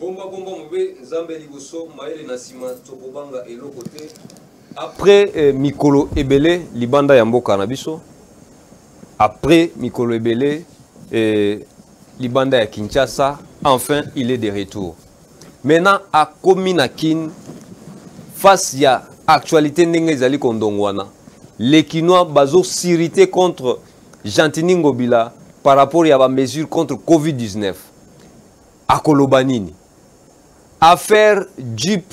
bombabomba mobe nzambe liboso mayele na nsima tokobanga eloko te après eh, mikolo ebele libanda ya mboka na biso après mikolo ebele eh, libanda ya kinshasa enfin il est de retour maintenant akomi na kin face ya actualité ndenge ezali kondongwana les kinois bazosirite contre Gentini Ngobila par rapport ya ba mesures contre Covid-19 akoloba nini? Affaire Jeep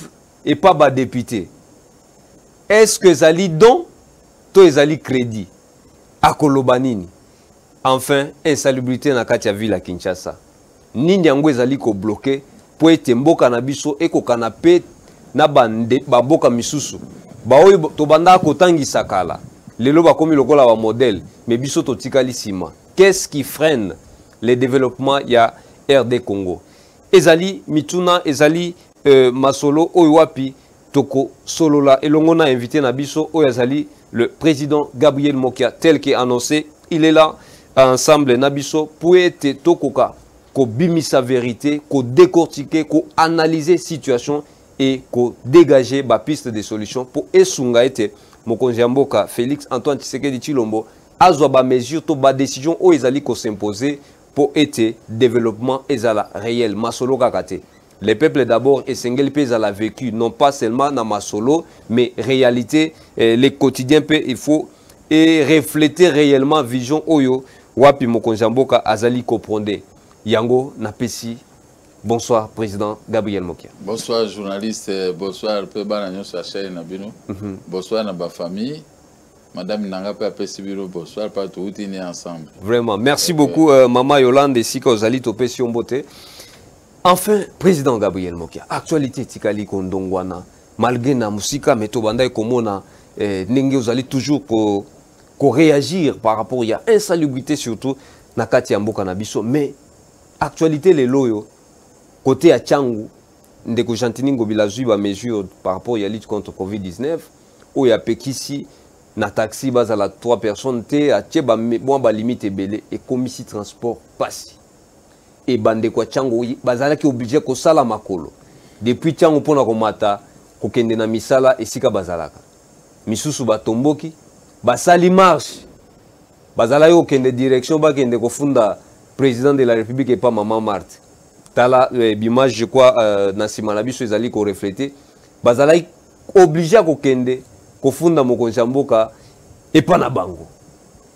et pas ba député. Est-ce que ezali don to ezali crédit? Akoloba nini? Enfin, insalubrité na kati ya ville ya Kinshasa. Nini yango ezali ko bloquer mpo ete mboka na biso ekokana mpe na bamboka misusu baoyo tobandaka kotangisa kala lelo bakomi lokola ba modèle mais biso totikali nsima qu'est-ce qui freine le développement ya RD Congo ezali mituna ezali euh, masolo oyo wapi solola elongo na invité na biso oyo azali le président gabriel mokia tel que annoncé il est là ensemble na biso mpo ete tokoka kobimisa verité kodécortiquer koanalyse situation et kodégage bapiste de solution mpo esunga ete mokonzi ya mboka félix antoine tshisekedi tshilombo azwa bamesure to badécision oyo ezali kosimpose mpo ete développement ezala réel masolo kaka te Les peuples d'abord esengeli pe ezala vécu non pas seulement na masolo mais réalité eh, les quotidiens pe il faut et refléter réellement vision oyo wapi mokonzi ya mboka azali koprendre yango napesi bonsoir président gabriel mokia bonsoir journaliste bonsoir mpe bana nyonso ya chaine na bino mm -hmm. bonsoir na bafamille madame nanga mpe apesi bino bonsoir mpa touti ne ensemble vraiment merci okay. beaucoup euh, mama yolande esika ozali topesi yo mbote Enfin, président Gabriel Mokia, actualité tikali kondongwana malgré na musika mais tobandaki komona eh, ndenge ozali toujours ko ko réagir par rapport ya insalubrité surtout na kati ya mboka na biso mais actualité lelo oyo côté ya Changu ndeko Gentini Ngobila azwi ba mesure par rapport ya lutte contre Covid-19 oyo apekisi na taxi bazala 3 personnes te atie ba mwa ba limite ebele ekomisi transport pasi e bandeko ya ntango bazalaki oblige kosala makolo depuis ntango mpo na komata kokende na misala esika bazalaka misusu batomboki basali marche bazalaki kokende direction bakende kofunda président de la république epa mama marte tala eh, bimage je crois euh, na nsima na biso ezali koreflete bazalaki oblige ya kokende kofunda mokonzi ya mboka epa na bango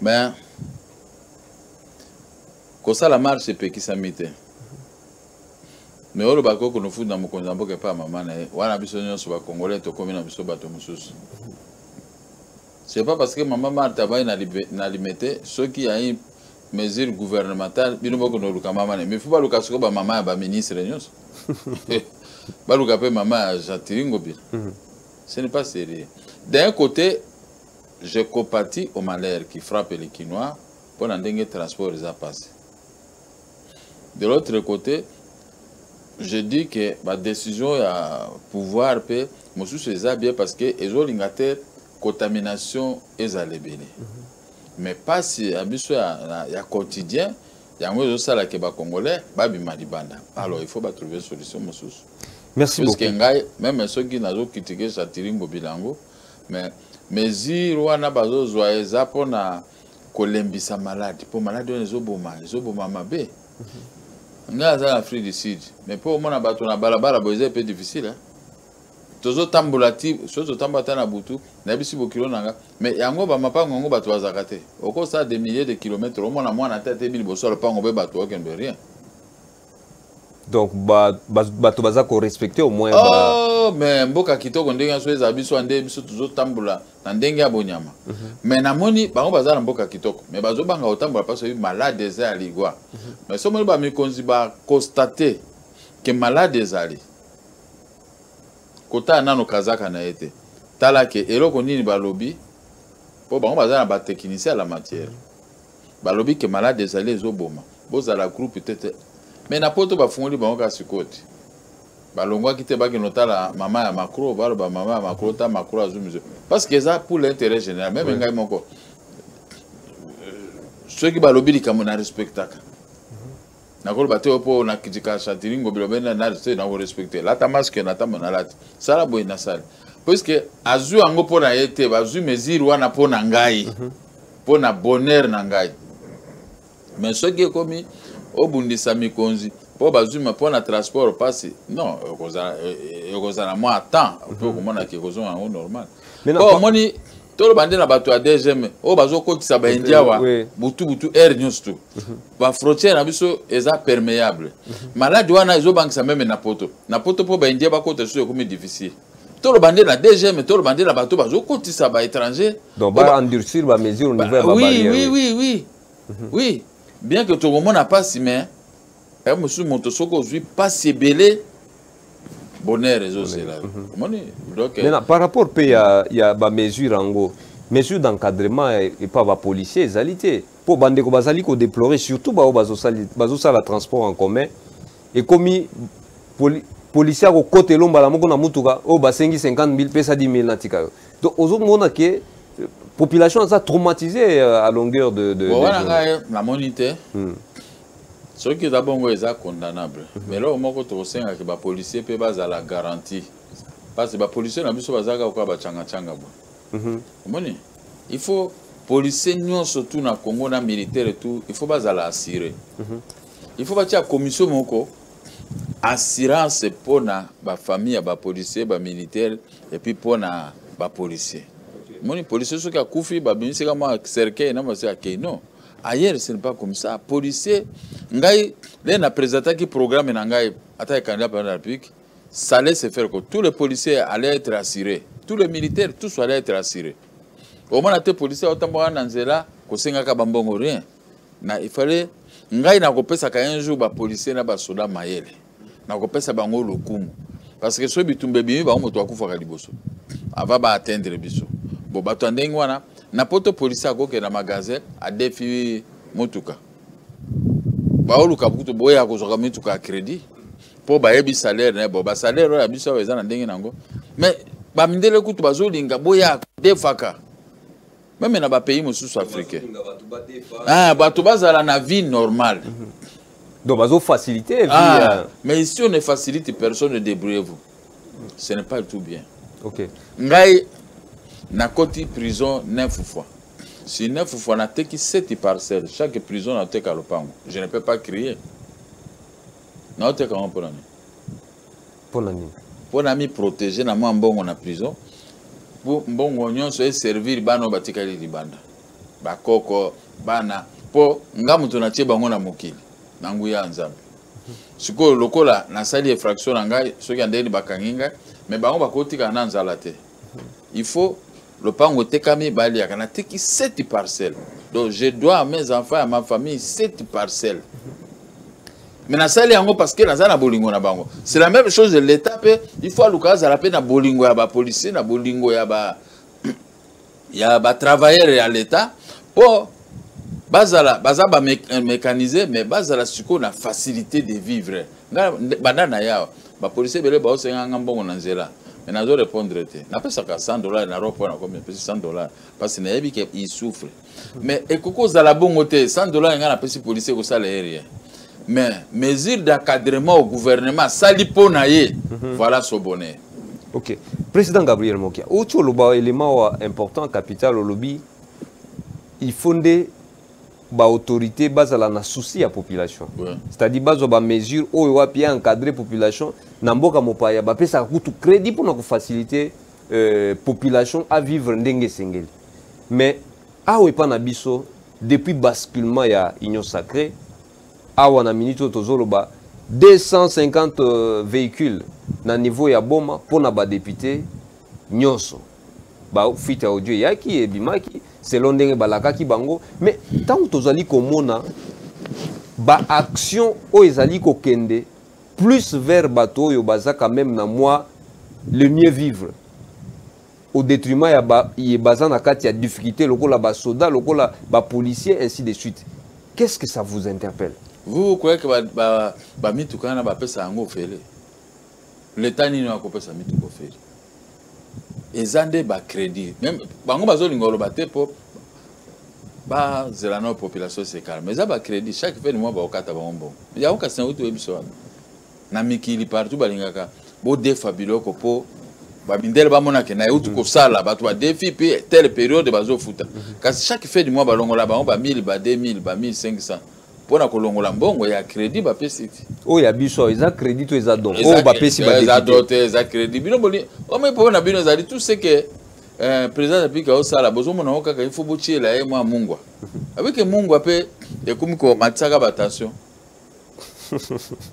mais kosala marche epekisami te me oyo olobaka oyo konofundi na mokonzi ya mboka epai ya mama na ye wana biso nyonso bakongole tokomi na biso bato mosusu c'est pas parce que mama marta abai na limete soki ya une mesure gouvernementale bino bokende oluka mama na ye mifu baluka sikoyo bamama ya baministre nyonso baluka mpe mama ya jean tiringo bino mhm. ce n'est pas sérieux d'un côté Je compatis au malheur qui frappe les Kinois mpo na ndenge transport eza mpasi. De l'autre côté, je dis que ba décision ya pouvoir mpe mosusu eza bien parce que ezolinga te contamination ezala ebele. Mm -hmm. mais mpasi ya biso ya, ya quotidien yango ezosala ke bacongolais babima libanda alors il faut batrouve solution mosusu merci puiske ngai meme soki nazokritike satiringo bilango mais mesure wana bazozwa eza mpona kolembisa malade mpo malade wana ezoboma ezoboma mabe mhm. ngai aza na afrique du sud mais mpo omona bato na balabala boye eza mpe difficile eh? tozotambola ti soki totambola ata na butu nayebisi bokilo na nga mais yango bamapango yango bato bazalaka te okosala des milliers de kilomètre omona mwana te ate bi liboso ya lopango mpe bato okende rien donc bato baza korespecte au moins oh, mais mboka kitoko ndenge nyonso ezala biso nde biso tozotambola na ndenge ya bonyama mhm. mais namoni bango baza na mboka kitoko mais bazobanga kotambola mpasi oyebi malade eza ya ligwa mhm. mais so omoni bamikonzi baconstate ke malade ezali kotala nano kazaka na ye te tala ke eloko nini balobi mpo bango baza na batechnicien ya la matière balobi ke malade ezali ezoboma bozala groupe te te me na poto bafungoli bango kaka sikoyo te balongwaki te bakende otala mama ya macro baloba mama ya macro ta macro azwi mizo parce que eza pour l'intérêt général meme ngai moko euh, soki balobi likambo na respectaka nakoloba te mpo na kritika chantiling ngobila obenda nali te nakorespecte lata maske na ntango nalati sala boye nasali puiske azwi yango mpo na ye te bazwi mesure wana mpo na ngai mhm. mpo na bonheur na ngai mais soki ekomi obundisa mikonzi mpo bazwi mpo na transport mpasi non ekozala e, e, mwa temps mpe mhm. okomonaki ekozonga yango normal mpo omoni toloba nde na bato ya dgm oyo bazokotisa baindi awa butu butu aire nyonso tu mhm. bafrontière na biso eza perméable mhm. maladi wana ezobangisa meme na poto na poto mpo baindia bakota lisusu ekomi difficile toloba nde na dgm toloba nde na bato bazokotisa baétranger baendurcir bamesure niveau ya oui oui oui oui mhm. oui bien que tokomona mpasi mais ya mosusu moto soki ozwi mpasi ebele bonheur ezozela mhm. omoni maintenant par rapport mpe ya, ya bamesure yango mesure d'encadrement epa bapolicier ezali te mpo bandeko bazali kodeplorer surtout baoyo bazosala transport en commun ekomi poli, policier akokota elo mbala moko na motuka oyo basengi 50 000 pesa 10 000 natika yo donc ozomona ke euh, population aza traumatisée euh, à longueur de, de, bon, de wana ngai namoni te hmm. soki eza bongo eza condamnable mm -hmm. mais eloko moko tokosengaki bapolicier mpe bazala garantie parce bapolicier na biso bazalaka koka bacangacanga boye mm -hmm. omoni il faut policier nyonso tu na congo na militaire tu il faut bazala assure mm -hmm. il faut batia commission moko assurance mpo na bafamille ya bapolicier bamilitaire epuis mpo na bapolicier moni policier soki akufi babimisika mwa cercueil na basi akei non ailleurs ce n'est pas comme ça policier ngai le na présentaki programme na ngai ata candidat président de la république ça allait se faire que tous les policiers allaient être assurés tous les militaires tous allaient être assurés omona te policier aotambwaka na nzela kosengaka bambongo rien na il fallait ngai nakopesaka un jour bapolicier na basoda mayele nakopesa bango lokumu parce que soki bitumba ebimi bango moto akufaka liboso ava baatteindre biso bo bato ya ndenge wana na poto polisi akokende na magasin adefi motuka baoluka kutu boya kozwaka mituka ya crédit mpo bayebi salaire na ye bo basalaire oyo ya biso awa eza na ndenge na yango mais bamindele kutu bazolinga boya defaka meme na bapays mosusu africain ah, bato bazala na vie normale mm -hmm. Donc, bazo faciliter. Ah, euh... Mais si on ne facilite personne, ne débrouillez-vous. Ce n'est pas tout bien. Ok. Ngai, na koti prison neuf fois. Si neuf fois na teki sept parcelles, chaque prison na teka lopango. Je ne peux pas crier. Na teka on prend. mpo na nini mpo na miprotege na mwa mbongo na prison mpo mbongo nyonso eservir bana oyo batikali libanda bakoko bana mpo nga moto natie bango na mokili na nguya ya nzambe sikoyo lokola nasali efraction na ngai soki andeni bakangi ngai me bango bakotikala na nzala te il faut lopango etekami baliyaka nateki 7 parcelle donc je dois à mes enfants ya ma famille 7 parcelle mais nasali yango parce que naza na bolingo na bango c'est la même chose l'état mpe il faut aluka azala mpe na bolingo ya bapolicier na bolingo ya ba ya batravailleur ya l'état mpo bazala baza bamécanise mais bazala sikoyo na facilité de vivre nga banda na yawa ba policier ebele baosenga nga mbongo na nzela mais nazo répondre te napesaka 100 dollars na ropo na komi napesi 100 dollars parce que nayebi ke il souffre mais ekoki kozala bongo te 100 dollars nga napesi policier ekosala ye rien mais mesure d'encadrement au gouvernement asali mpo na ye mhm. voilà son bonheur ok président gabriel mokia outi oloba élément wa important capital olobi il faut nde ba autorité bazala na souci ya population ouais. c'est-à-dire bazwa ba mesure oyo wapi encadrer population na mboka mopaya bapesaka kutu crédit mpona kofacilite euh, population a vivre ndenge esengeli mais awa epa na biso depuis basculement ya union sacrée awa na minute oyo tozoloba 250 euh, véhicules na niveau ya boma mpona badepute nyonso ba fuite ya audio eyaki ebimaki selon ndenge balakaki bango mais ntango tozali komona baaction oyo ezali kokende plus vers bato oyo baza quand même na mwa le mieux vivre au détriment ya ba, ye baza na kati ya difficulté lokola basoda lokola bapolicier ainsi de suite qu'est-ce que ça vous interpelle vous croyez que bamitukana ba, ba bapesa yango ofele leta nini oyo akopesa mituka ofele eza nde bacrédit meme bango bazolinga oloba te mpo bazela nao population esekala mais eza bacrédit chaque fin du mois baokata bango mbongo yango kasi nauti oyebisa wana na mikili partout balingaka bodefa biloko mpo bamindele bamonake na euti kosala bato badefi mpe tele periode bazofuta mhm. kasi chaque fin du mois balongola bango ba 1000 ba 2000 ba 1500 mpo na kolongola mbongo ya crédit bapesi ti oyo ya biso eza crédit to eza don oyo bapesi baeza do te eza crédit bino boli omoi problème na bino ezali tout ce que euh, président apiki aosala bozomona yango kaka ifo botyela ye mwa mungwa abike mungwa mpe ekomi komatisaka batension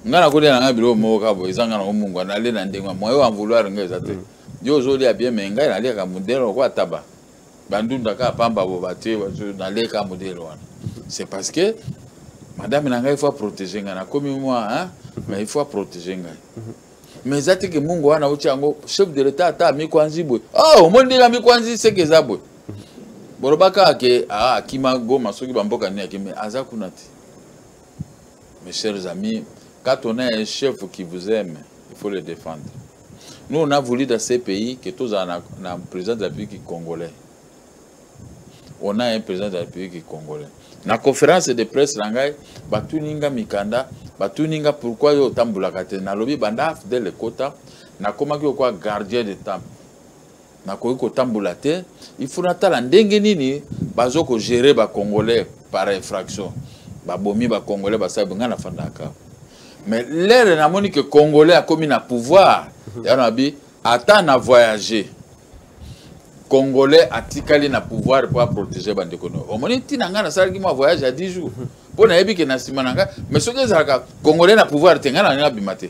ngai nakolia na ngai biloko moko kaka boye eza ngai nango mungwa nalie na ndenge moyo ya vouloir ngai eza te mm. yo ozolia bien me ngai naliaka modele lokola taba bandunda kaka pamba boba te naleka modele wana c'est parce que madame na ngai il faut aprotéger ngai nakomi mwa hein? mais il faut aprotéger ngai mais eza te ke mungu wana auti yango chef de l'état ata amikwanzi boye oh omoni ndenge amikwanzi seke eza boye boloba kaka ke ah, akima goma soki bamboka nini akimi aza kuna te mes chers amis quand on a un chef qui vous aime il faut le défendre Nous, on a voulu dans ces pays que tous en un président de la République congolais. On a un président de la République congolais. Na conférence de presse na ngai batuninga mikanda batuninga pourquoi yo otambulaka te nalobi banda fidele ekota nakomaki okwa gardien de temple nakoki kotambola te il faut natala ndenge nini bazo kogere bacongolais par infraction babomi bacongolais basali ngai nafandaka mais lere namoni ke congolais akomi na pouvoir mhm. ya nabi ata na voyage congolais atikali na pouvoir mpo aprotege bandeko no omoni ntina ngai nasalaki mwa voyage ya 10 jours mpo mhm. nayebi ke na nsima na ngai mais soki ezalaka congolais na pouvoir te ngai na ngai nabima te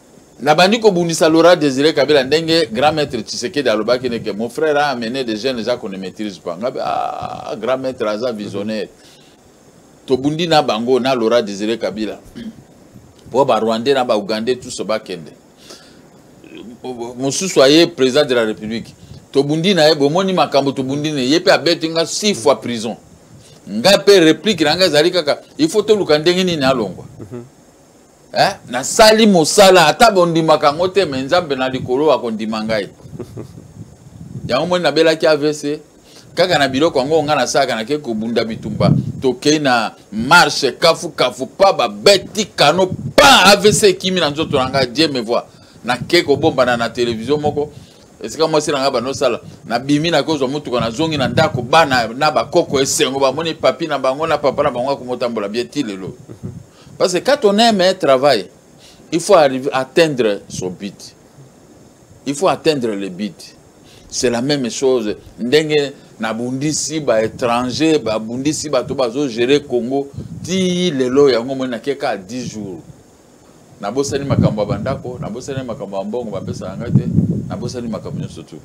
nabandi kobundisa laura désiré kabila ndenge grand maître tshisekedi alobaki neke mon frère a amené des jeunes eza qu'on ne maîtrise pas ngabe ah, grand maître aza visionnaire tobundi na bango na laura désiré kabila mpo barwandais na baougandais tuso bakende mosusu aye président de la république tobundi na ye bomoni makambo tobundi na ye mpe abeti nga six fois prison ngai mpe réplique na ngai ezali kaka il faut toluka ndenge nini alongwa mm -hmm. eh? nasali mosala ata bondimaka yango te me nzambe na likolo akondima ngai yango moni nabelaki avc kaka na biloko yango ngai nasalaka nake kobunda bitumba tokei na marche kafukafu pa babeti kano pa avc ekimi na nzoto na ngai die me voi nake kobombana na televizio moko esika mwasi na ngai banosala nabimi nakozwa motuka nazongi na ndako bana na bakoko esengo bamoni papi na bango na papa na bango akomotambola bie ti lelo Parce que quand on aime un travail, il faut arriver à atteindre son but. Il faut atteindre le but. C'est la même chose. Ndenge nabundisi ba étranger babundisi bato bazogere congo ti lelo yango moi nakeka 10 jours nabosani makambo ya bandako nabosani makambo ya mbongo bapesaka ngai te nabosani makambo nyonso tu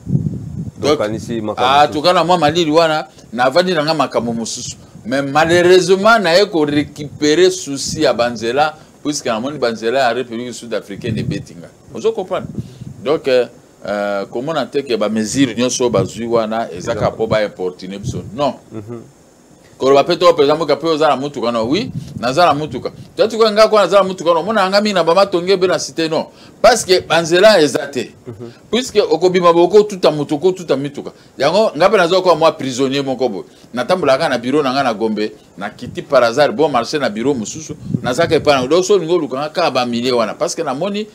tokanisi ah, makambo na mwa malili wana navandi na ngai makambo mosusu mais malheureusement naye ko récupérer souci ya banzela puisque namoni banzela ya république sud africaine ebeti nga ozo comprendre donc euh, euh, komona te ke bamesure nyonso oyo bazwi wana eza kaka mpo baimportune biso non mm -hmm. koloba mpe to mpenza mboka mpe oza na motuka no wi naza na motuka totuka ngai kuna naza na motuka no omona yanga mingi na bamatongi ebe na site no parce que banzela eza te mhm. puisque okobima bokotuta moto okotuta mituka yango ngai mpe naza koa mwa prisonnier moko boye natambolaka kaka na biro na ngai na gombe nakiti par hasard bon marché na biro mosusu nazaka epai nango donc so olingi olukanga kaka bamilie wana parce que namoni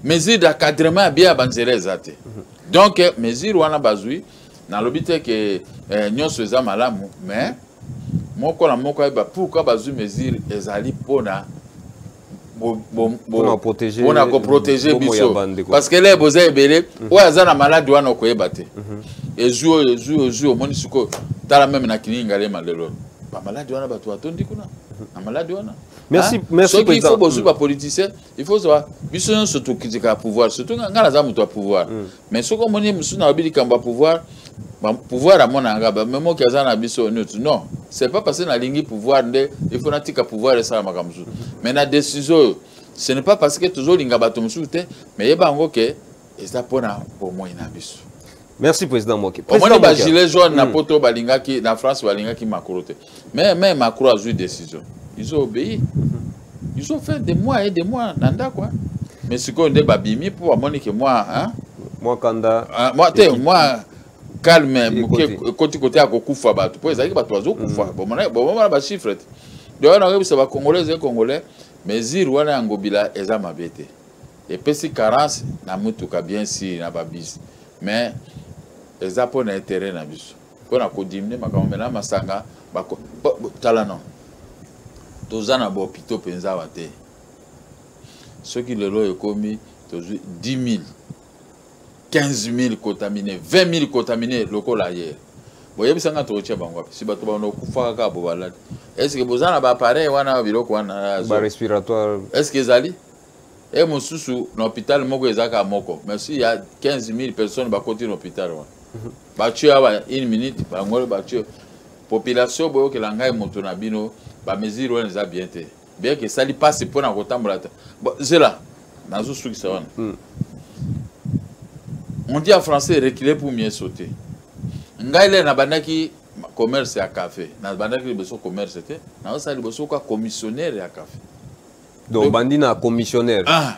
mesure d'encadrement ya bia ya banzela eza te donc eh, mesure wana bazwi nalobi te ke eh, nyonso eza malamu mais moko na moko ayeba pourkui bazwi mesure ezali mpona mpona koprotege biso parce que leye boza ebele mhm. oyo aza na maladi wana okoyeba te mhm. ezwi oyo ezwi oyo ezwi omoni sikoyo tala meme na kininga lema lelo bamaladi wana bato batondi kuna mhm. na maladi wana soki il faut bozwi bapoliticien il faut zwa biso nyonso tokitikaka pouvoir surtout ngai naza moto ya pouvoir mais soki omoni ye mosusu nalobi likambo ya pouvoir pouvoir amona yanga bamemoki aza na biso nutu non c'est pas parce nalingi pouvoir nde il faut natika pouvoir esala makambo mosusu mais na décision oyo ce n'est pas parce que tozolinga bato mosusu te mais yeba yango ke eza mpona bomoi na biso merci président moke omoni bagilet jaune na mm. poto balingaki na france balingaki makolo te mais mais macro azwi décision ils ont obéi ils ont fait des mois et des mois na ndako hein. mais sikoyo nde babimi mpo bamoni ke mwa hein? mwa kanda ah, mwa te mwa calme moke ekoti kote ya kokufa bato mpo ezalaki bato bazokufa mm. bomona bachiffre te donc wana oyebisa bacongolais ezali congolais mesure wana ya ngobila eza mabe te epesi carence na motuka bien sur na babisi mais eza mpo na intérêt na biso mpo na kodimine makambo mela masanga tala no toza na bahopitau mpenza awa te soki lelo oyo ekomi tozwi 10 000 15 000 cotamine 20 000 cotamine lokola ye boyebisa nga tokotya bango wapi si bato bana okufaka kaka bobalali estce boza na baappareil wana biloko wana respiratoire estce ezali e mosusu na hôpital moko ezalaka moko mais si ya 15 000 personnes bakoti na hôpital wana mhm. batue awa une minute bangolo batue population boyokela ngai moto na bino bamesure wana eza bien te bien ke esali mpasi mpo na kotambola ta zela nazosukisa wana hmm. on dit en français reculer pour mieux sauter ngai le nabandaki commerce ya café nabandaki liboso commerce te nazosala liboso kwa commissionnaire ya café donc obandi na commissionnaire ah.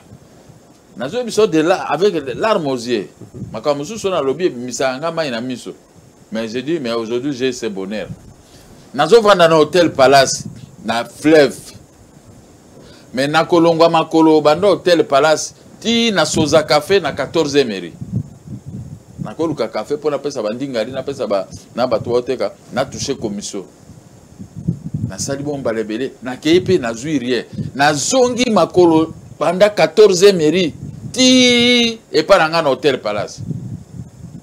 nazoyi biso de là avec larme aux yeux makambo mosusu oyo nalobi ebimisaka ngai mai na miso mais je dis mais aujourd'hui j'ai ce bonheur nazovanda na hôtel palace na fleuve mais nakolongwa makolo banda hôtel palace ti na soza café na 14 emery nakoluka café mpo napesa bandingari napesa ba, na bato baoteka natouche commission nasali bongo mbala ebele nakei mpe nazwi rien nazongi makolo banda 14 mairie ti epai na ngai na hotel palace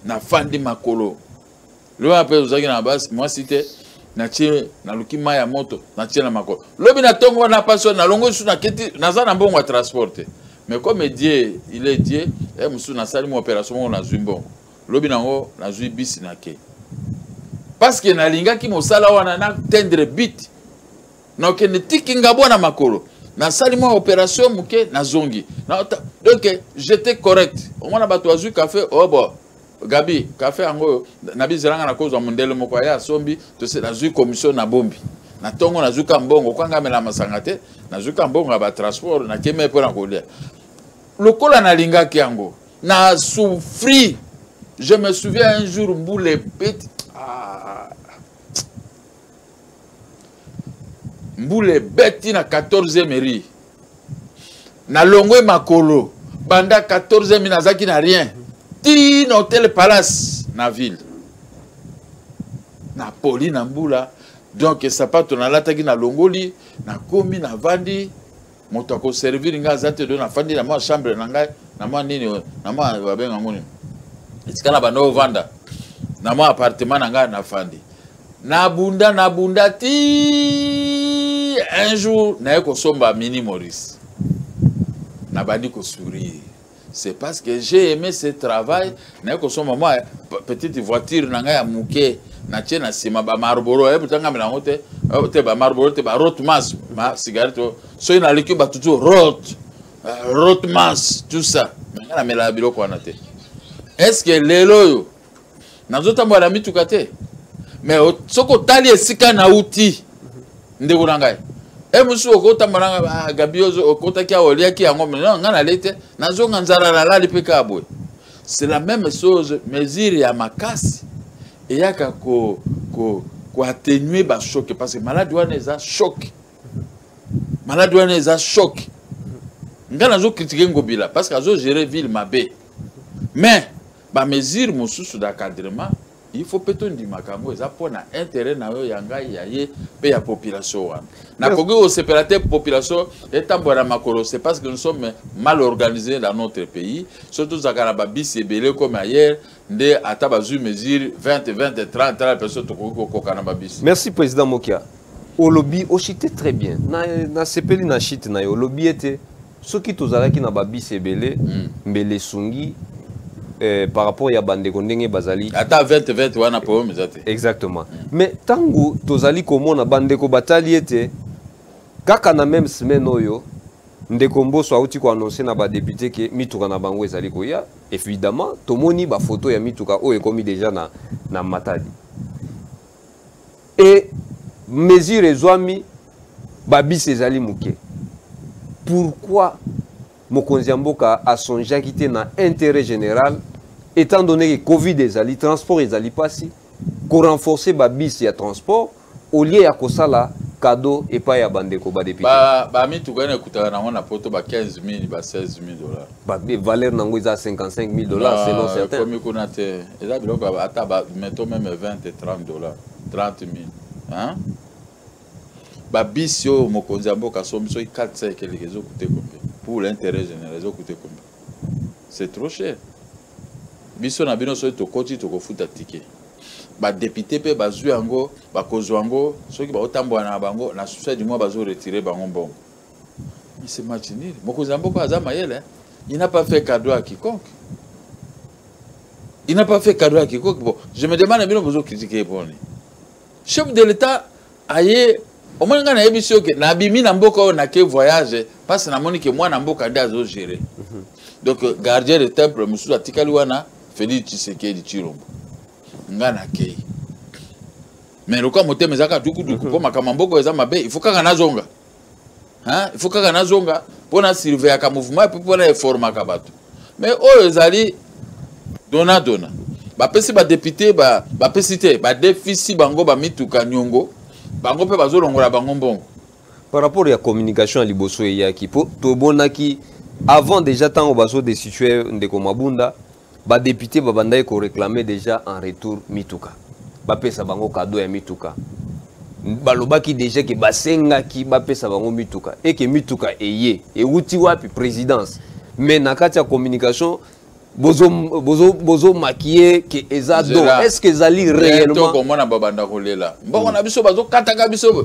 nafandi makolo lelo wana mpe ozalaki na basi mwasi te natie naluki mai ya moto natie na makolo lobi na ntongo wana mpasi wana nalongo lisusu naketi naza na mbongo ya transport te mais comme die il est die e eh, mosusu nasali mo opération moko nazwi mbongo lobi nango nazwi bisi na ke parceke nalingaki mosala wana na tendre bit nakende tiki ngabwa na makolo nasali mwa opération moke nazongi donc j'étais correct omona bato bazwi kafe obo oh gabi kafe yango oyo nabizelanga nakozwa mondele moko aya asombi tose nazwi commission na bombi na ntongo nazwi ka mbongo kwanga amela masanga te nazwi ka mbongo ya batransport nakemei mpo na kolia lokola nalingaki yango Na souffri. Je me souviens un jour boule petit. Ah. Mboule beti na 14e ri. Na longwe makolo banda 14e nazaki na rien. Ti na hotel Palace na ville. Na poli na mbula donc sapato nalataki na longoli nakomi navandi moto akoservire ngai aza te do nafandi na mwa chambre na ngai na mwa nini na mwa babenga yango nini esika na banda ovanda na mwa appartement na ngai nafandi nabunda nabunda ti un jour naye kosomba mini maurice nabandi kosourire c'est parce que j'ai aimé ce travail naye kosomba mwa petite voiture na ngai ya moke natie na nsima bamarboro ayebi eh, tangami nango te eh, te bamarboro te barotmas ma cigarette oh. soki naleki bato tu rot eh, rotmas tout ça nanga namelaka biloko wana te est ce que lelo oyo nazotambola na mituka te mais soki otali esika nauti ndeko na ngai e mosusu okotambola na ngai ah, gabi okotaki awa oliaki yango ngai nalei te nazonga nzala nalali mpe kaka boye c'est la même chose mesure ya makasi eyaka ko, ko, ko atténuer ba choc parce que malade wana eza choc malade wana eza choc ngai nazo kritike ngobila parce que azo gérer ville mabe mais Ba mesures mosusu d'encadrement il faut mpe tondimaka yango eza mpo na intérêt na yo ya ngai ya ye mpe ya population wana nakoki kosepela te population etambola na makolo c'est parce que nous sommes mal organisé dans notre pays so tozalaka na babisi ebele comme ailleurs nde ata bazwi mesure 20 20 30 30 personne tokoki kokoka na babisi merci président mokia olobi ochite très bien nasepeli na, na chite na yo olobi ete soki tozalaki na babisi ebele mm. mbele esungi eh, par rapport ya bandeko ndenge bazali ata 2020 wana problème eza te exactement mm. mais ntango tozali komona bandeko batali ete kaka na meme semaine oyo ndeko mboso auti koannonce na badepute ke mituka na bango ezali koya évidemment tomoni bafoto ya mituka oyo ekomi deja na, na matadi et mesure ezwami babisi ezali moke pourquoi mokonzi ya mboka asongeaki te na intérêt général étant donné que covid ezali transport ezali mpasi korenforce babisi ya transport au lieu ya kosala cadeau epai ya bandeko badepute bamituka ba ena ekutaka nango na poto ba 15 000 ba 16 000 dollars papier valeur nango eza 55 000 dollars selon certains komi kuna te eza biloko ata ba meto meme 20 et 30 dollars 30 000 hein babisi oyo mokonzi ya mboka asombi soki 4 sa ekeleke ezokute combien pour l'intérêt général ezokute combien c'est trop cher biso na bino soki tokoti tokofuta ticket badepute mpe bazwi yango bakozwa yango soki baotambola na bango na susa du mois bazoretire bango mbongo c'est match nul mokonzi ya mboka aza mayele il n'a pas fait cadeau à quiconque il n'a pas fait cadeau à quiconque bon je me demande bino bozo critiquer ye poni chef de l'état aye omoni ngai nayebi si oke nabimi na mboka oyo nake voyage mpasi namoni ke mwana mboka nde azogere mhm. donc euh, gardien de temple mosusu atikali wana félix tshisekedi tshilombo ngai nakei mais lokola motema ezaka dukuduku mpo mhm. makambo ya mboka eza mabe il faut kaka nazonga hein il faut kaka nazonga mpo na surveillaka mouvement epuis mpo na eformaka bato mais oyo ezali dona dona bapesi badepute bapesi te badefisi bango bamituka niongo bango mpe bazolongola bango mbongo par rapport ya communication ya liboso eyaki mpo tobonaki avant déjà ntango bazodestitue ndeko mabunda ba député babandaki ko réclamer déjà en retour mituka bapesa bango cadeau ya mituka balobaki déjà ke basengaki bapesa bango mituka eke mituka eye ewuti wapi présidence mais na kati ya communication bozo bozo bozo maquiller que eza do est ce que ezali réellement to komona babanda kolela mbongo na biso bazo kataka biso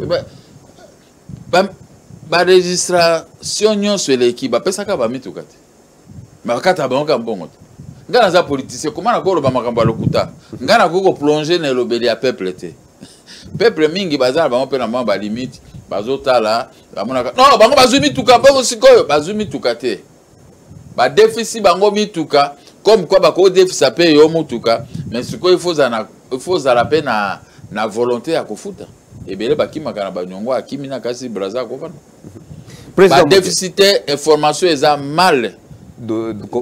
ba registration nyonso eleki bapesaka ba mituka te me bakata bango kaka mbongo te ngai naza politicien koma nakoki koloba makambo ya lokuta ngai nakoki koplonge na elobeli ya peuple te peuple mingi baza na bango mpe na mwa balimite bazotala bamonaka non bango bazwi mituka mpo sikoyo bazwi mituka te badefisi bango mituka comme quoi bakoki defisa mpe yo motuka mais sikoyo ifo ozala mpe na, na volonté ya kofuta ebele bakimaka na banyongo akimi na kasi braza akofana ba déficitaire information eza mal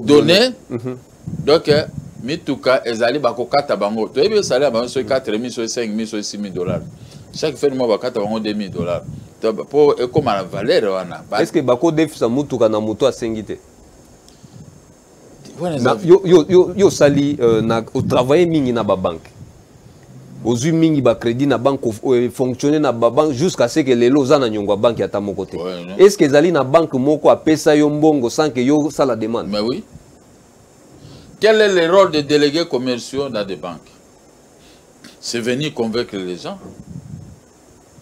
donné mhm. donc euh, mituka ezali bakokata bango toyebi esali ya bango soki 4 mi soki 5 mi soki 6 mi dollar chaque fin mwa bakata bango 2 mi dollar mpo ekóma na valeur wana est ce que bakodefisa motuka na moto asengi te yo osali euh, otravaille mingi na babanke ozwi mingi bacrédit na banque euh, fonctionne na babanque jusqu'à ce que lelo oza na nyongo ya banque ata moko te est ce que ezali na banque moko apesa yo mbongo sans que yo osala demande mais oui quel est le rôle des délégués commerciaux dans des banques c'est venir convaincre les gens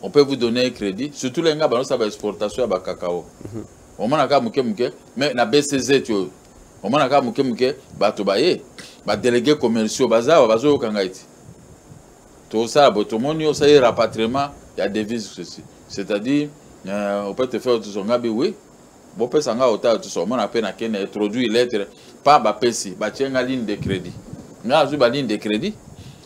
on peut vous donner un crédit surtout les nga ba ça ba exportation ya ba cacao mhm. on mona ka muke muke mais na BCZ yo on mona ka muke muke bato ba ye ba délégués commerciaux bazawa bazo kanga iti to ça bo to moni yo ça y rapatriement ya devise ceci c'est-à-dire euh, on peut te faire tout son ngabi oui bo pesa nga ota tout son mona pe na ken introduire lettre pas ba pesi ba tienga ligne de crédit nga azu ba ligne de crédit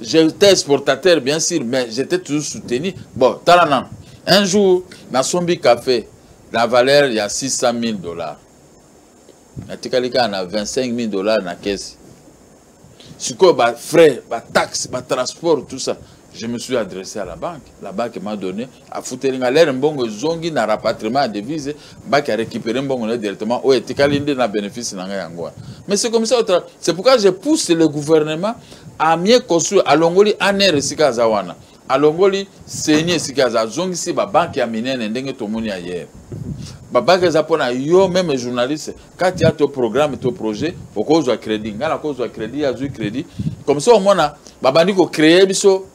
j'étais exportateur bien sûr mais j'étais toujours soutenu bon tala nanu un jour nasombi café na valeur ya 600 000 dollars natikali kaka na 25 000 dollars na kesi sikoyo bafrais bataxe batransport tout ça je me suis adressé à la banque la banque m'a donné afuteli nga lere mbongo ezongi na rapatriement ya devise banque a récupéré mbongo na directement oyo etikali nde na bénéfice na ngai yango wana mais c'est comme ça c'est pourquoi je pousse le gouvernement à mieux construire alongoli aner esika aza wana alongoli seni esika aza azongisi babanke ya minene ndenge tomoni ya yere babanke eza mpo na yo meme journaliste kati ya to programme to projet okozwa crédit ngai nakozwa crédit azwi crédit comme ça omona babandi kocreye biso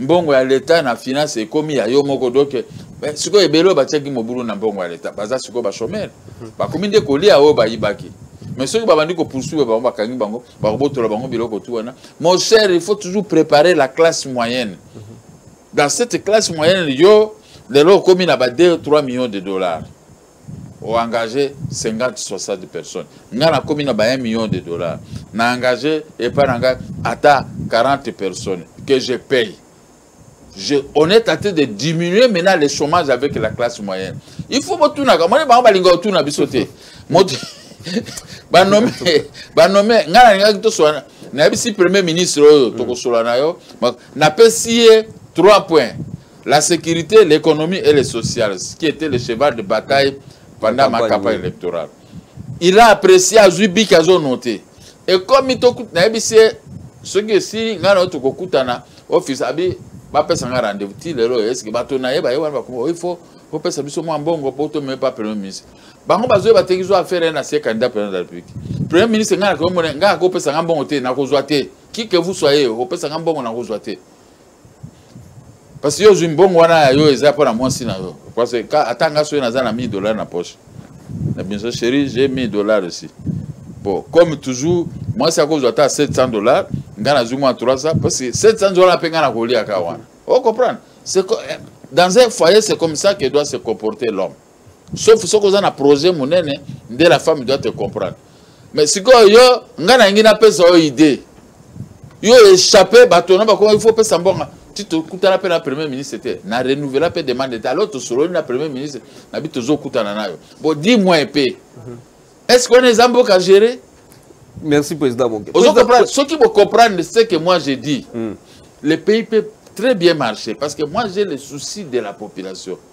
mbongo ya leta na finance ekomi ya yo moko donc eh, sikoyo ebele oyo batiaki mobulu na mbongo ya leta baza sikoyo bachomere hmm. bakomi nde kolia oyo bayibaki mais soki babandi kopoursuivre bango bakangi bango bakobotola bango biloko tu wana mon cher il faut toujours préparer la classe moyenne hmm. dans cette classe moyenne yo lelo okomi na ba 2 3 millions de dollars o engage 50 60 personnes ngai nakomi na ba 1 million de dollars na engage epai na ngai ata 40 personnes que je paye je, on est en train de diminuer maintenant le chômage avec la classe moyenne il faut botunaka moni bango balinga otuna biso te moto banome banome ngai nalingaki toswana nayebisi premier ministre oyo tokosola na yo napesi ye 3 points La sécurité, l'économie et le social, ce qui était le cheval de bataille pendant ma campagne électorale. Il a apprécié à Zubi qu'ils ont noté. Et comme il t'a dit, ce qui est si, il a noté que Koutana, office, abi, va faire un rendez-vous. Il est là, est-ce que va tourner, il va y avoir un coup. Il faut, il faut faire ça, il faut faire un bon coup, il faut faire un premier ministre. bango bazwi bateki zwa affaire ye na sie candidat président de la république premier ministre ngai nakomona ngai akopesa ngai mbongo te nakozwa te kike vous soyez okopesa ngai mbongo nakozwa te parce que yo ozwi mbongo wana ya yo eza mpo na mwasi na yo parce que ata nga soki naza na 1000 dollars na poche na biso chéri j'ai 1000 dollars aussi bon comme toujours mwasi akozwa ata 700 dollars nga nazwi mwa 300 parce que 700 dollars mpe nga na koliaka wana o oh, comprendre eh, dans un foyer c'est comme ça que doit se comporter l'homme sauf soki oza na projet monene nde la femme doit te comprendre mais sikoyo yo ngai nalingi napesa yo idée yo échappe bato na bakoma il faut opesa mbonga ti tokutana mpe na premier ministre te na renouvela mpe demande te alors tosololi na premier ministre na bi tozokutana nayo bo di moi mpe mhm. est ce que wana eza mboka gérer Merci, Président Bongue. Ce qui me comprendre, c'est que moi, j'ai dit, mm. le pays peut très bien marcher parce que moi, j'ai le souci de la population.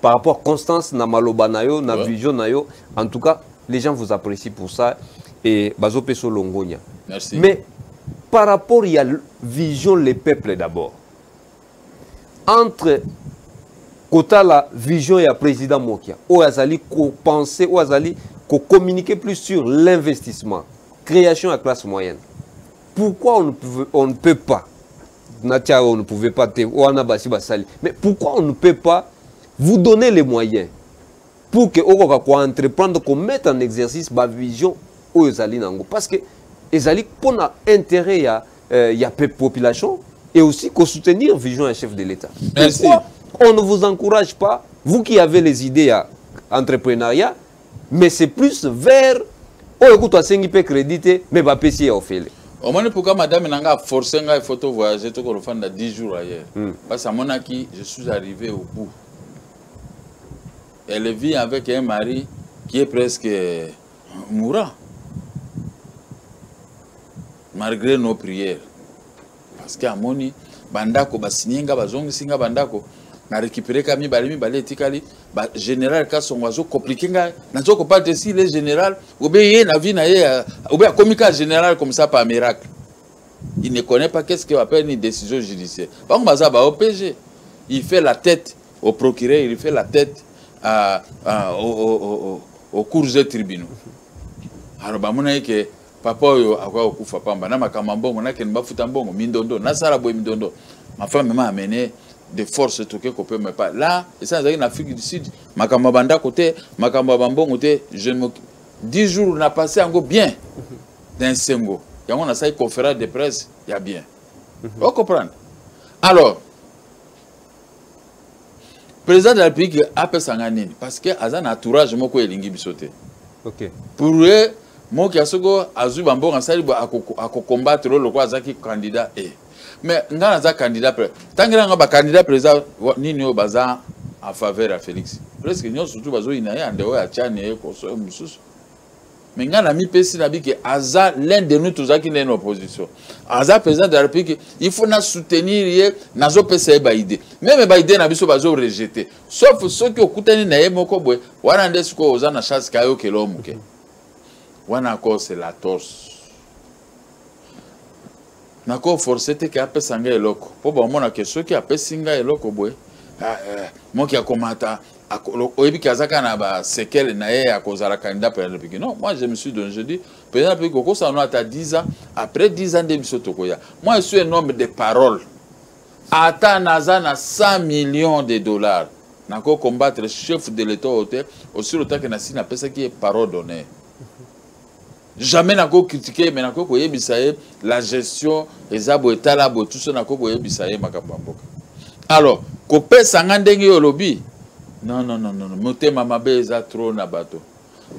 par rapport constance na maloba na yo na ouais. vision na yo en tout cas les gens vous apprécient pour ça et bazo peso longonya Merci. mais par rapport ya vision les peuples d'abord entre kotala vision ya président mokia oyo azali kopense oyo azali ko communiquer plus sur l'investissement création ya classe moyenne pourquoi on ne, pouvait, on ne peut pas natia on ne pouvait pas te wana basi basali mais pourquoi on ne peut pas vous donner les moyens pour que okoka koentreprendre komettre en exercice bavision oyo ezali na yango parce que ezali mpo na intérêt ya, euh, ya population et aussi kosoutenir vision ya chef de l'état pourquoi on ne vous encourage pas vous qui avez les idées ya entrepreneuriat mais c'est plus vers oyo kutu asengi mpe crédit te mais bapesi ye ofele omoni pourquoi madame na ngai aforce ngai faut to voyage tokolofanda 10 jours ailleurs hmm. parce amonaki je suis arrivé au bout elle vit avec un mari qui est presque euh, mourant malgré nos prières parce que amoni bandako basinye nga bazongisi nga bandako na récupéré ka mibale mibale etikali ba général kasongo azo compliqué ngai nazo kopala te si le général obe ye na vie na ye euh, obe akomi ka général comme ça par miracle il ne connaît pas qu'est-ce que appelle une décision judiciaire bango baza ba OPG il fait la tête au procureur il fait la tête à, à, au, au, au, au cours des tribunaux alors bamonaki ke papa oyo akoya kokufa pamba na makambo ya mbongo nakende bafuta mbongo mindondo nasala boye mindondo ma femme mema amene de force toke kopema epa la esa nazalaki na afrique du sud makambo ya bandako te makambo ya bambongo te je me 10 jours na passe yango bien na esengo yango nasalaki conférence de presse ya bien mhm. ocomprendre alors président de la république apesa ngai nini parce que aza na entourage moko elingi biso te okay. pour ye moki ya soko azwi bambongo asali akokombatre oyo lokola azalaki candidat e eh. mais ngai naza candidat ntangela ngai bacandidat président nini oyo baza en faveur ya félix presque nyonso tu bazoyina ye ande oyo atiani ye koso ye mosusu mais ngai namipesi nabi ke aza l'un de nous tozalaki nde na opposition aza président de la république il faut na soutenir ye nazopesa ye baide meme baide na biso bazo rejete sauf soki okutani na ye moko boye wana nde sikoyo oza na chance kaye okela yo moke wana akose la torse nako force te ke apesa ngai eloko mpo bamona ke soki apesi ngai eloko boye ah, eh, moki akomata oyebi ke aza kaka na basekele na ye ya kozala candidat président république non moi je me suis donné je dis président république okosala no ata 10 ans après 10 ans nde biso tokoya moi je suis un homme de parole ata naza na 100 millions de dollars nako combattre chef de l'état oyo te osili otake na sini apesaki ye parole d'honneur jamais nako critique ye mais nakoki koyebisa ye la gestion eza boye tala boye tuso nakoki koyebisa ye makambo ya mboka alors kopesa nga ndenge yo olobi non non non non motema mabe eza trop na bato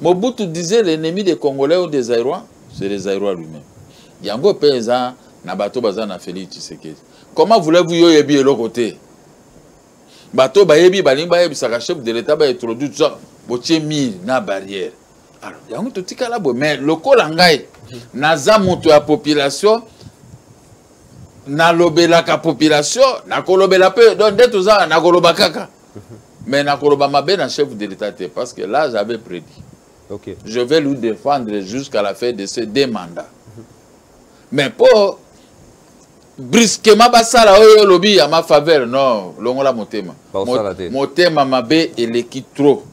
mobutu disait l'ennemi des congolais ou des airois c'est les airois lui-même yango mpe eza na bato baza na félix tshisekedi comment voulez-vous yo oyebi eloko te bato bayebi balingi bayebisaka chef de l'état baintroduire botie mire na barrière alors yango totikala boye mais lokola ngai naza moto ya population nalobelaka population nakolobela mpe donc nde toza nakoloba kaka mais nakoloba mabe na chef de l'état te parce que là j'avais prédit okay. je vais lui défendre jusqu'à la fin de ce deux mandats mais mpo brusquement basala oyo olobi ya ma faveur non longola motema motema mabe eleki trop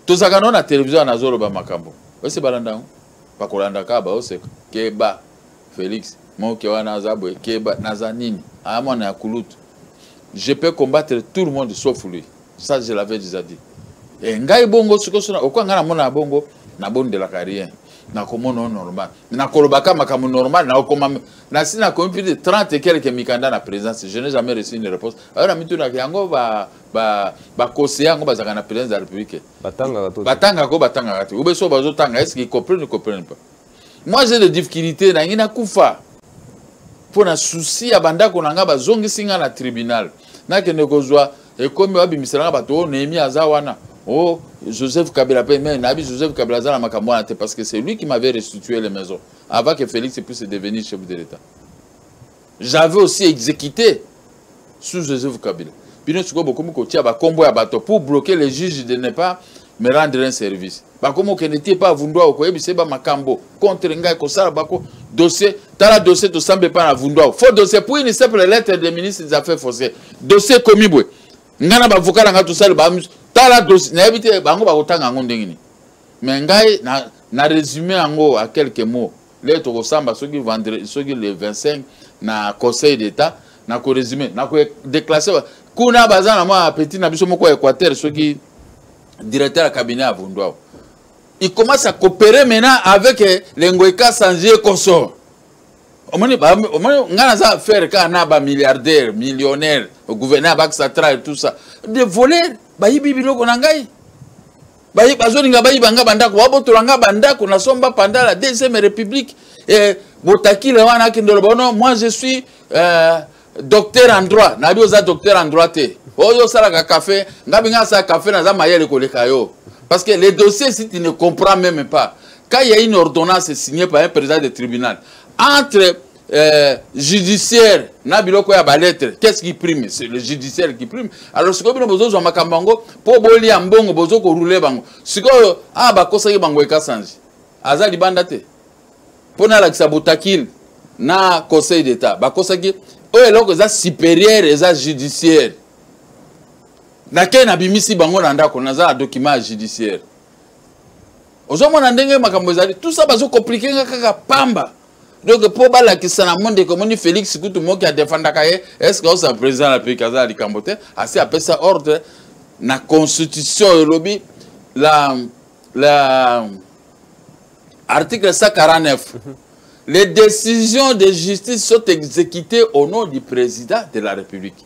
tozalaka nao na televizio wana azoloba makambo oyese balanda yango bakolanda kaka baoseka keba félix moke wana aza boye keba naza nini aya mwana ya kulutu je peux combattre tout le monde sauf lui ça je l'avais déjà dit e ngai bongo sikosona okoya ngai namona ya bongo nabondelaka rien nakomona o normal nakolobaka makambo normal nakokoma nasi nakomi plus de 30 quelque mikanda na présence je n'ai jamais reçu une réponse ayo na mitunaka yango ba ba conseiller yango bazaka na présidence de la république batangaka to batangaka ko batangaka te obeso bazo tanga est-ce qu'ils comprennent ou comprennent pas moi j'ai des difficultés na ngina kufa mpo na souci ya bandako na ngai bazongisi ngai na tribunal nakende kozwa ekomi babimisela ngai bato oyo oh, nehemi aza wana o oh, joseph kabila mpe me nayebi joseph kabila aza na makambo wana te parce que c'est lui qui m'avait restitué les maisons avant que félix puisse devenir chef de l'état j'avais aussi exécuté sous Joseph Kabila bino sikoyo bokomi kotia bakombo ya bato pour bloquer les juges de ne pas me rendre un service bakomi okende te epa avundwa okoyebisa ye bamakambo contre ngai kosala bako dossier tala dossier tosamba epa na avundwa faux dossier pour une simple lettre de ministre des affaires foncières dossier ekomi boye ngai na bavoka na ngai tosali ba tala dossier nayebi te bango bakotanga yango ndenge nini mais ngai na, na résume yango à quelques mots lelo tokosamba soki vendredi soki le 25 na conseil d'état na koresume na kodeclasse kuna baza na mwa appetit na biso moko ya équateur soki directeur ya cabinet ya vunduao il commence à coopérer maintenant avec eh, lengoeka sangie consort omoni omoni ngai naza affaire kaka na bamilliardaire millionnaire gouverneur bakisa tra et tout ça de voler bayibi biloko na ngai baye bazolinga bayiba nga bandako babotola nga bandako na somba panda la deuxième république eh, botakile wana akende oloba no moi je suis euh, docteur en droit nayebi oza docteur en droit te oyo oh, osalaka café nga binga asala café naza mayele koleka yo parce que les dossiers si tu ne comprends même pas quand il y a une ordonnance signée par un président de tribunal entre Euh, judiciaire na biloko ya baletre qu'est-ce qui prime c'est le judiciaire qui prime alors sikoyo bino bozozwa makambo yango mpo bolia mbongo bozo korule bango sikoyo a ah, bakosaki bango ekasanji aza libanda te mpo nalakisa botakile na conseil d'état bakosaki oyo eloko eza supérieure eza judiciaire nakei nabimisi bango na ndako naza na document ya judiciaire ozomona ndenge makambo ezali tout ça bazokomplike nga kaka pamba donc mpo balakisa na monde ekomoni félix kutu moki adefandaka ye est ce que osa président na peki aza ya likambo te asi apesa ordre na constitution elobi la, la article 149 les décisions de justice sont exécutées au nom du président de la république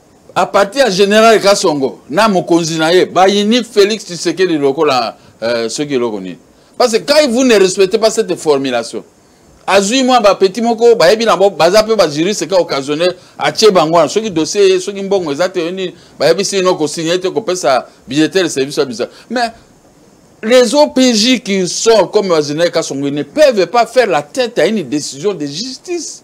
à partir ya général kasongo na mokonzi na ye bayini félix tshisekedi lokola euh, soki eloko nini parce que quand vous ne respectez pas cette formulation azwi mwa bapeti moko bayebi na baza mpe bajuriste ka occasionnel atie bango wana soki dossier ye soki mbongo eza te yo nini bayebisi ino kosigne te kopesa billetele service ya bisa mais les OPJ qui sont comme Wazinel Kassongo ne peuvent pas faire la tête à une décision de justice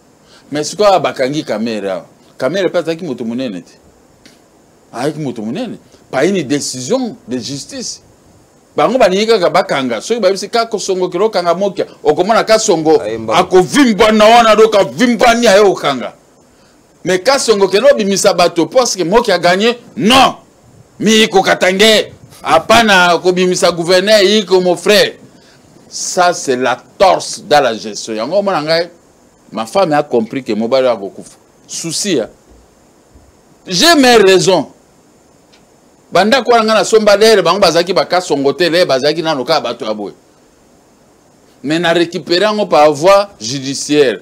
mais sikoyo bakangi kamere awa kamere mpe azalaki moto monene te ayaki moto monene payini décision de justice bango balingi kaka bakanga soki bayebisi kaka osongo kilo okanga mokia okomona kasongo akovimbana wana do kavimbani aye okanga me kasongo kende obimisa bato poske moki aganye non miyiko katange apana kobimisa gouverneur yiko mon frère ça c'est la torse dans la gestion yango omona ngai ma femme a compris que mobali oyo akokufa souci ya j'ai mes raisons bandako wana ngai nasomba lere bango bazalaki bakasongo te lere bazalaki nano kaka bato ya boye mais na récupéré yango par voie judiciaire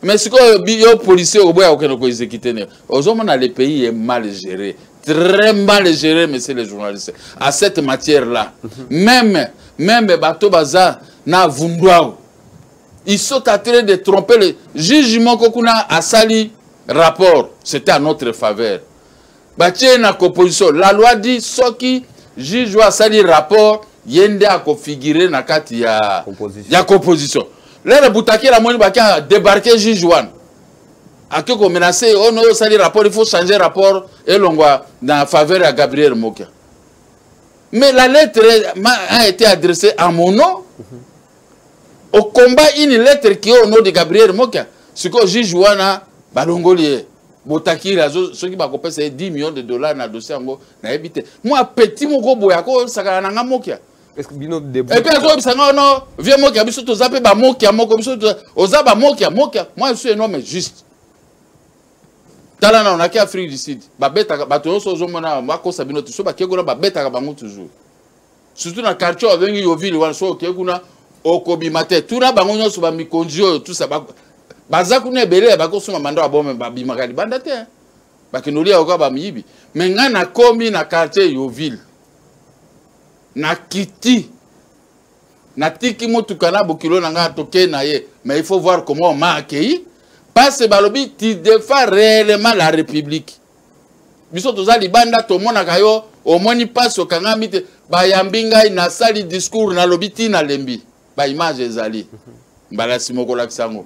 mais sikoyo yo policier oboya kokende koexécute nde ozomona le pays est mal géré très mal géré monsieur le journaliste à cette matière là mhm. même même bato baza na vunduau ils sont en train de tromper le juge moko kuna asali rapport c'était à notre faveur batie na composition la loi dit soki juge oyo asali rapport ye nde akofigure na kati ya, ya composition lelo butakela amoni baki adebarke juge wana ake komenace oyo noyo osali rapport il faut changer rapport elongwa na faveur ya gabriel mokia mais la lettre a été adressée à mon nom mm -hmm. au combat une lettre qui est au nom de Gabriel Mokia sikoyo juge wana balongoli ye botakila soki bakopesa ye 10 millions de dollars na dossier yango nayebi te mwa petit moko boye akosakana na nga mokia epe azoyebisa nga ono vie mokia biso toza mpe bamokia moko biso oza bamokia mokia moi je suis un homme juste tala na onaki afrique du sud babetaka bato nyonso ozomona bakosa bino te so bakekuna babetaka bango toujours surtout na quartier babengi yovile wana soki okei kuna okobima te tuna bango nyonso bamikonzi oyo tusa baza kuna ebele bakosunga manda babome babimaka libanda te bakende olia yoka bamiyibi me ngai nakomi na quartier yovile nakiti natiki motuka na bokilo na ngai tokei na ye mais il faut voir comment ma akei parce balobi tu defa réellement la république biso toza libanda tomonaka yo omoni mpasi okangami te bayambi ngai nasali discours nalobi ti nalembi baimage ezali mbala nsima okolakisa yango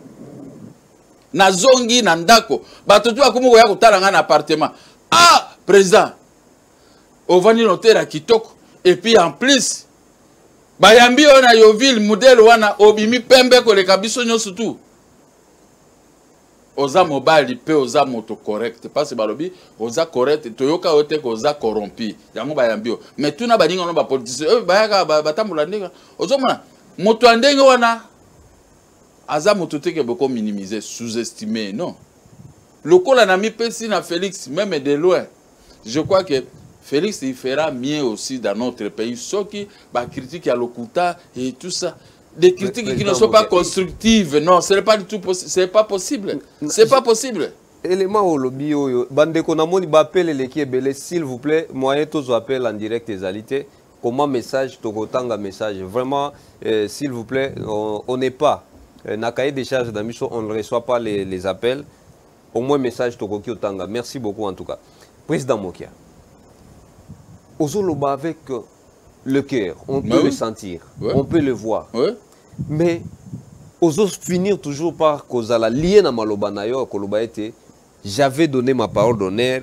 nazongi na ndako bato ti bakomi koya kotala ngai na appartement ah président ovandi na hotel ya kitoko epuis en plus bayambi oyo na yoville modele wana obimi pembe koleka biso nyonso tu oza mobali mpe oza moto correct mpasi balobi oza correct toyoka yo te koza corrompi yango bayambi yo mai tuna baninga wana bapolitisien oyo bayaka batambola ndenge ozomona moto ya ndenge wana aza moto te ke boko minimiser sous-estime non lokola namipesi na félix meme de loin je crois que Félix il fera mieux aussi dans notre pays soki ba critique ya lokuta et tout ça des critiques mais, qui ne sont pas constructives non ce n'est pas du tout possible c'est pas possible c'est pas possible élément olobi oyo bandeko namoni bapel eleki ebele s'il vous plaît moyen tozwa appel en direct ezali te comment message tokotanga message vraiment euh, s'il vous plaît on n'est pas euh, na cahier des charges na biso on ne reçoit pas les, les appels au moins message tokoki otanga merci beaucoup en tout cas président mokia ozoloba avec euh, le cœur on peut le sentir on peut le voir mais ozo finir toujours par kozala lié na maloba na yo koloba ete j'avais donné ma parole d'honneur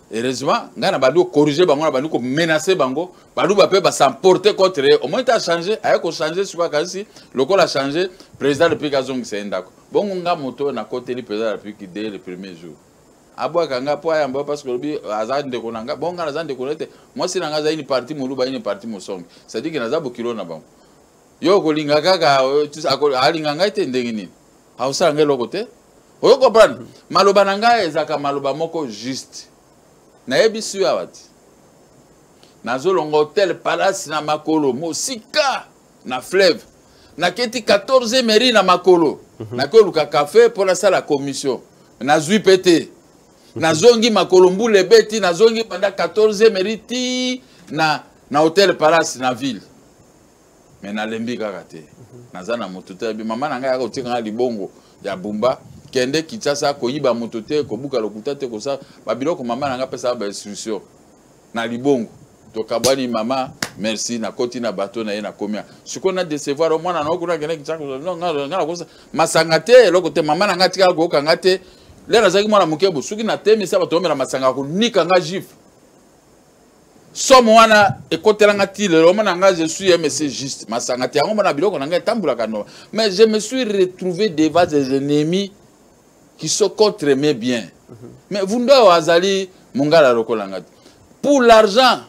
heureusement ngai na bandi kocorrige bango na bandi komenace bango baluba mpe basemporte contre ye omoi te achange aye kochange sikoyo akanisi lokola achange président de république azongisa ye ndako bongo nga moto oyo nakoteli président de république de le premier jour abwaka nga mpo ayamba parce que olobi aza ndeko na nga bongo nga naza ndeko na ye te mwasi na nga azali ni parti moluba ye ni parti mosongi cestadire ke naza bokilo na bango yo okolinga kaka alinga ngai te ndenge nini akosala ngai eloko te oyo comprendre maloba na ngai ezalaka maloba moko juste nayebisi yo awa te nazolonga hotel palace na makolo mosika na fleuve naketi 14 mairie na makolo mhm. nakoluka kafe mpo nasala commission nazwi mpe te mhm. nazongi makolo mbula ebeti nazongi banda 14 mairie ti na, na hotel palace na ville mais nalembi kaka te naza na moto te yabi mama na ngai yaka otika ngai libongo ya bumba kende kinshasa koyiba moto te kobuka lokuta te kosala babiloko mama na ngai apesaka bainstruction na libongo tokabwani mama merci nakoti na bato na ye nakomia sikoyo na decevoir o mwana na okuna kende kinshasa masanga te eloko te mama na ngai atikala koyoka ngai te lelo nazalaki mwana moke bo soki natemisa bato omela masanga konika ngai gifle somo wana ekotela nga ti lelo omona nga je suis mc juste masanga te yango mona biloko na nga etambulaka noma mais je me suis retrouvé devant des ennemis qui sont contre mes biens mm -hmm. mais vunda oyo azali mongala lokola nga te pour l'argent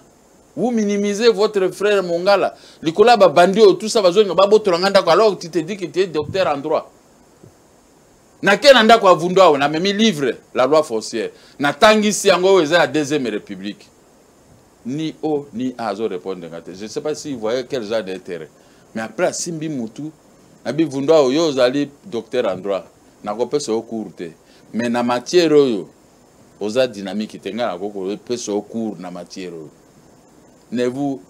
vous minimisez votre frère mongala likolo ya babandi oyo tout ça bazonga babotola nga ndako alors tu te dis que tu es docteur en droit nake na ndako ya vundu awa namemi livre la loi foncière natangisi yango oyo eza ya deuxième république ni o ni a azo répondre nga te je sais pas si voyez quel genre d'intérêt mais après asimbi mutu nabi vundu awa oyo ozali docteur en droit nakopesa yo cour te mais na matière oyo oza dynamique te ngai nakoki kopesa yo cour na matière oyo nevu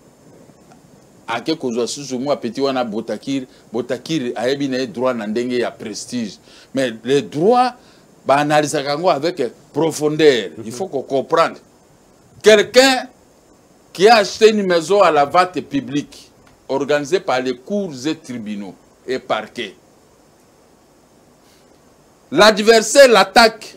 ake kozwa susu mwa petit wana botakir botakir ayebi na ye droit na ndenge ya prestige mais le droit baanalisaka yango avec profondeur il faut kocomprendre quelqu'un qui a acheté une maison à la vente publique organisée par les cours et tribunaux et parquets l'adversaire l'attaque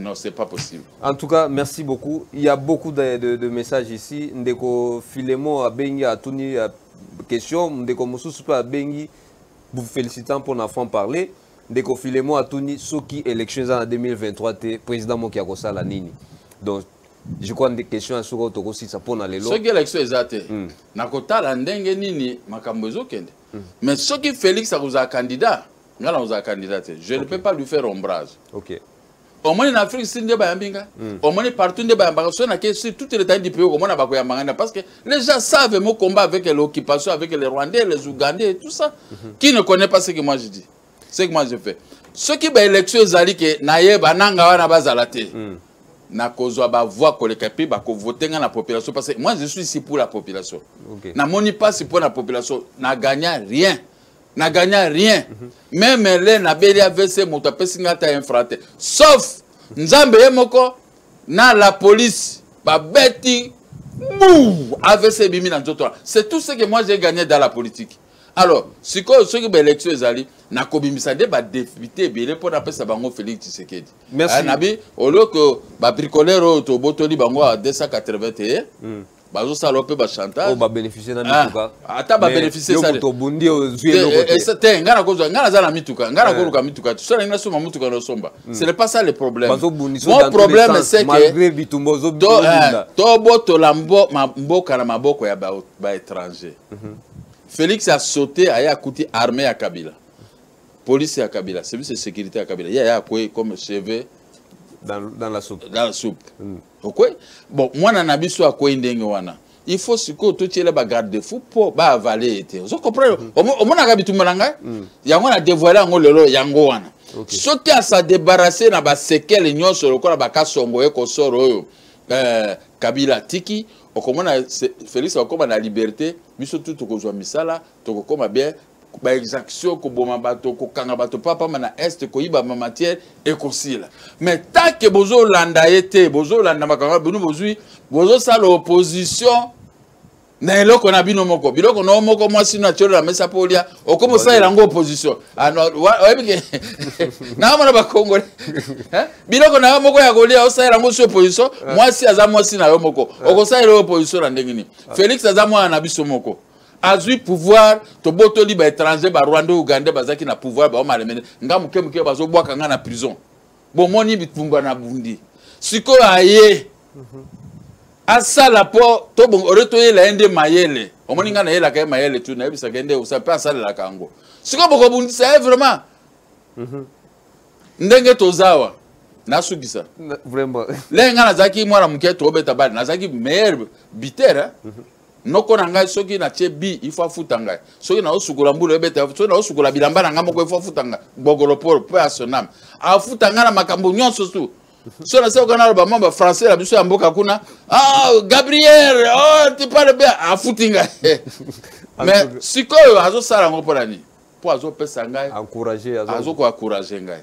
Non, c'est pas possible. En tout cas, merci beaucoup. Il y a beaucoup de, de, de messages ici. Ndeko Filemo Abengi a tuni euh, question. Ndeko Moussousou Abengi, vous félicitant pour la franc parler. Ndeko Filemo a tuni Soki élections en 2023, te président Moki Akosa la Nini. Donc, je crois que question à ce que tu as ça pour les lois. Soki élection est atée. Hmm. Nakota la ndengue nini, makambo ezokende. Hmm. Mais Soki Félix a candidat. nga na kozala candidat te je ne peux pas lui faire ombrage okay. omoni na afrique si nde bayambi nga hmm. omoni partout nde bayambaka so nake sur toute l'état du pays okomona bakoyamba nga nde parce que les gens savent mon combat avec l'occupation avec les rwandais les ougandais et tout ça mhm. qui ne connaît pas ce que moi je dis ce que moi je fais soki baélection ezali ke nayeba nanga wana bazala te hmm. nakozwa bavoi koleka mpe bakovote ngai na population parce que moi je suis ici pour la population okay. namoni mpasi mpo na population na gagna rien na gagna rien meme le nabeli avc moto apesi ngai ata infra te sauf nzambe ye moko na la police babeti bou avc ebimi na nzoto wana c'est tout ce que moi j'ai gagné dans la politique alors sikoyo soki baélection ezali nakobimisa nde badepute ebele mpo napesa bango félix tshisekedi nabi olio ke babricolere oyo tobotoli bango a 280 te bazosala yo mpe bachantage ba beneficie na mituka ah, ata ba beneficie sa moto obundi ozwi eh, eloko eh, te te ngai nakozwa ngai naza na mituka ngai nakoluka eh. mituka te soki nasomba motuka nosomba hmm. ce n'est pas ça le problème mon problème c'est que tobotola mboka na maboko ya baétranger mhm. félix a sauté aye akuti armée ya kabila police ya kabila service de sécurité ya kabila ye aye akwei comme cheveux dans, dans la soupe, dans la soupe. Mm. okwei bon mwana na biso akwei ndenge wana il faut sikoyo totyela bagarde de fou mpo baavale ye te ozo comprendre mm. omonaka bitumba na ngai mm. yango na devoile yango lelo yango wana okay. soki asadebarase na basekele nyonso lokola bakasongo ye kosoro oyo eh, kabila atiki okomona félix akokoma na liberté biso tu tokozwa misala tokokoma bien baexaction koboma bato kokanga bato papamba na este koyiba bamatière ekosila mais tanke bozolanda ye te bozolanda makambo bino bozwi bozosala opposition na eloko na bino moko biloko na yo moko mwasi no atyolola mesa mpo olya okomi osalela yango opposition ah, oyebike naamona bakongole biloko na yo moko ya kolya osalela yango si opposition ah. mwasi aza mwasi na yo moko ah. okosalela yo opposition na ndenge nini félix aza mwana na biso moko azwi pouvoir tobotoli ba étranger ba rwandais ougandais bazalaki na pouvoir baomalemene nga moke moke bazobwaka nga na prison bomoni bitumba na bundi sikoyo aye mhm. asala mpo tobongore toyela ye nde mayele omoni ngai nayelaka ye mayele tu nayebisaka ye nde osa mpe asalelaka yango sikoyo bokobundisa ye vraiment mhm. ndenge tozawa nasukisa lenge ngai nazalaki mwana moke tobeta bale nazalaki meilleur bitere mhm. noko na ngai soki natye bi ifo afuta ngai soki naosukola mbula ebeta soki naosukola bilamba na ngai moko ifo afuta ngai gbogolo polo mpe asoname afuta ngai na makambo nyonso tu so na sekoka naloba mwa bafrançais na biso ya mboka kuna ah, gabriel oh, tipale mpe afuti ngai mais sikoyo azosala yango mpo na nini mpo azopesa ngai azokoencourage ngai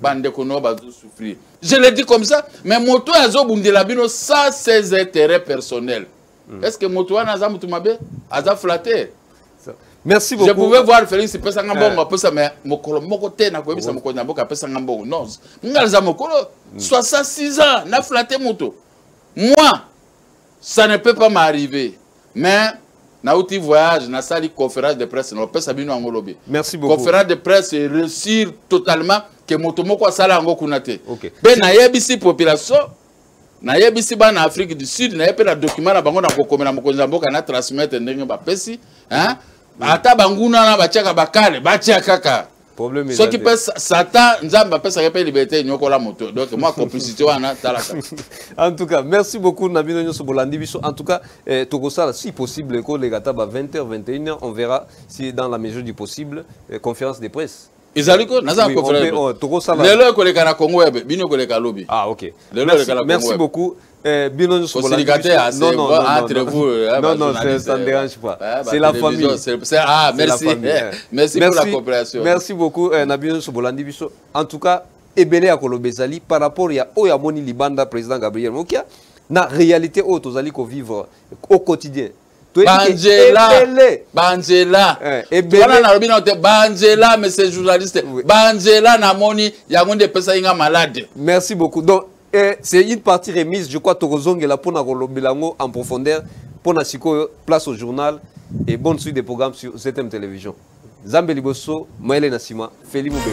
bandeko no bazosouffrir je le dis comme ça mais moto oyo azobundela bino ça ses intérêt personnel mm. est ce que moto wana aza moto mabe aza flatter merci beaucoup je pouvais voir félix pesa nga mbongo eh. apesa mais mokolo moko te nakoyebisa mokonzi na mboka apesa nga mbongo non nga aza mokolo 66 mm. ans na flatte moto moi ça ne peut pas m'arriver mais nauti voyage nasali conférence de presse naopesa bino yango lobi merci beaucoup conférence de presse réussir totalement que moto moko asala yango kuna te okay. mpe nayebisi population nayebisi bana afrique du sud naye mpe na document na bango na kokomela mokonzi ya mboka na transmettre ndenge bapesi ata banguna na batiaka bakale batia kaka problème soki mpe satan nzambe apesaka mpe liberté enyokola moto donc mwa complicité wana talaka en tout cas merci beaucoup na bino nyonso bolandi biso en tout cas eh, tokosala si possible koleka ata ba 20 h 21 h on verra si dans la mesure du possible eh, conférence de presse ezali ko naza kofelelo ekoleka na congo yabe bino ekoleka lobi ah ok merci beaucoup Eh, bino nyonso entre vous euh, non non ça ne dérange pas euh, c'est la famille ah merci merci pour la coopération merci beaucoup euh, na bino nyonso bolandi biso en tout cas ebele ya koloba ezali par rapport ya oyo amoni libanda président Gabriel Mokia na réalité oyo tozali ko vivre au quotidien banzela banzela eh, wana nalobi nao te banzela monsieur journaliste banzela namoni yango nde epesaki nga malade merci beaucoup donc Eh, c'est une partie remise, je crois, Tokozongela pour Bilango en profondeur, pour Nasiko, place au journal et bonne suite des programmes sur ZM Télévision. Zambe Liboso, Maëlé Nassima, Feli Moubembe.